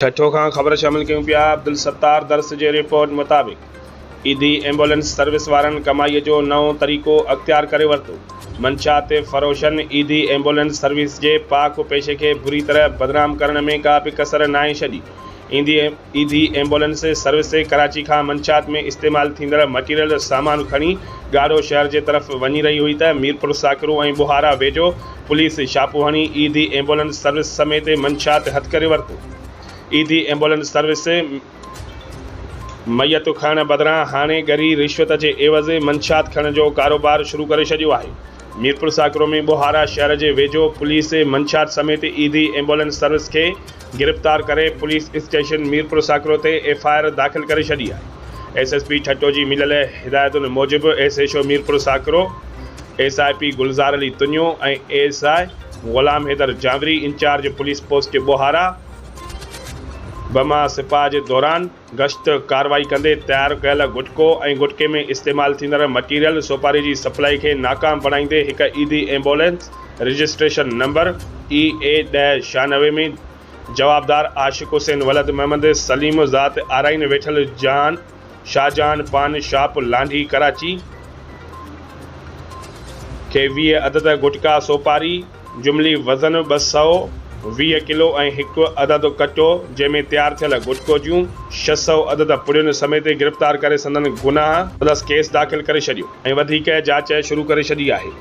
ٺٽو کان خبر شامل ڪيون پيا عبدالستار درس جي رپورٽ مطابق ايڌي ايمبولينس سروس وارن ڪمائي جو نئون طريقو اختيار ڪري ورتو منشيات فروشن ايڌي ايمبولينس سروس جي پاڪ و پيشي کي بري طرح بدنام ڪرڻ ۾ ڪا به ڪسر ناهي ڇڏي ايندي ايڌي ايمبولينس سروس ڪراچي کان منشيات ۾ استعمال ٿيندڙ مٽيريل سامان کڻي ڳاڙهو شهر جي طرف وڃي رهي هئي ته ميرپور ساڪرو ۽ ٻهارا ويجهو پوليس ڇاپو هڻي ايڌي ايمبولنس سروس سميت منشا تي هٿ ڪري ورتو. ايڌي ايمبولنس سروس ميتون کڻڻ بدران هاڻي ڳري رشوت جي عيوض منشا کڻڻ جو ڪاروبار شروع ڪري ڇڏيو آهي. ميرپورخاص ڪرومي ٻوهارا شهر جي ويجهو پوليس منشا سميت ايڌي ايمبولنس سروس کي گرفتار ڪري پوليس اسٽيشن ميرپور ساڪرو تي ايف آء آر داخل ڪري ڇڏي آهي ايس ايس پي ٺٽو جي مليل هدايتن موجب S H O Mirpur Sakro S I P Gulzar Ali Tunio ۽ A S I Ghulam Haider Janwari incharge police post Bohara بما سپاهه جي دوران گشت ڪارروائي ڪندي تيار ڪيل گٽڪو ۽ گٽڪي ۾ استعمال ٿيندڙ مٽيريل سوپاري جي سپلائي کي ناڪام بڻائيندي هڪ Edhi ambulance registration number A A ڏهه ڇهانوي ۾ جوابدار عاشق حسين ولد محمد سليم ذات آرائين ويٺل جان شاهجهان پان شاپ لانڍي ڪراچي کي ويهه عدد گٽڪا سوپاري جملي وزن ٻه سؤ ويهه ڪلو ۽ هڪ عدد ڪٽو جنهن ۾ تيار ٿيل گٽڪو جون ڇهه سؤ عدد پڙين سميت گرفتار ڪري سندن گناهه پلس ڪيس داخل ڪري ڇڏيو ۽ وڌيڪ جاچ شروع ڪري ڇڏي آهي.